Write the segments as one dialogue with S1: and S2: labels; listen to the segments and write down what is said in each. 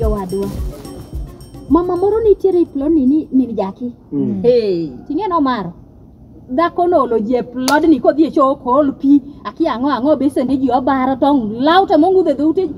S1: jowadwa mama moro nitiere e plodni ni min jaki hey. ting'e nomaro dhako noolo ji e plodni kodhi e choo okool pi aki ang'o ang'o besende ji obaro tong' law to mong'udho e dhoute ji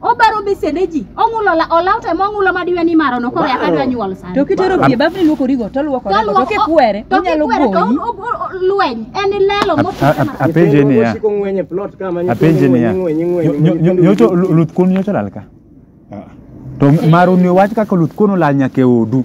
S1: obaro besende ji ong'ulo ola- olaw to ema ong'ulo ma diwe ni marono koro yaka dwa nyuol sani To kitero pie bafni
S2: luokorigo to luoko To rego to luoko- kikwere to onyalo kikwere to goyi. o- o- o- lweny
S1: en lelo A- motuch a- a- apenje
S3: niya Osiko ng'weny e plot kama nyithindo
S4: apenje niya ng'weny, ng'weny,
S3: nyo- nyo- ng'weny, nyocho nyithindo luth kuon nyocho lal ka to maru ni wach kaka luth kuon olal nyaka e odu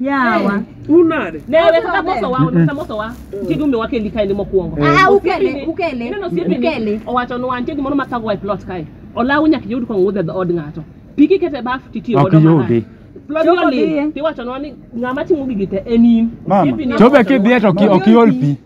S2: Yawa. Unade. Ne we
S5: kaka moso wa, kaka moso wa. Ti dume wa kendi kae ni mokuongo. Ah, ukele, ukele. Ineno osiepe Ukele. ni owacho ni wantie gimoro ma thago e plot kae. Olawu nyaka yud kong wuodhe dho od ng'ato. Piki kete baf titiyo Ok godo. marach. yudi. Plot Chopo yoli. diye. Tiwacho ni ng'ama timo gigi te en in. Mama, Osiepe ni- chobe kidhiye
S3: to ki- ok iol pi.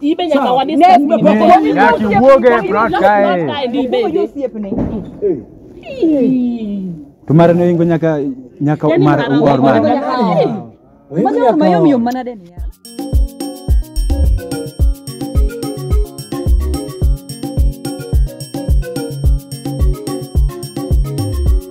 S3: Ibe nyaka wa discuss. Ne, ne, nyaka iwuog e front kae. To mare ne ingo nyaka nyaka mar
S2: war mar. Majo mayo
S3: miyo manade
S2: ni ya.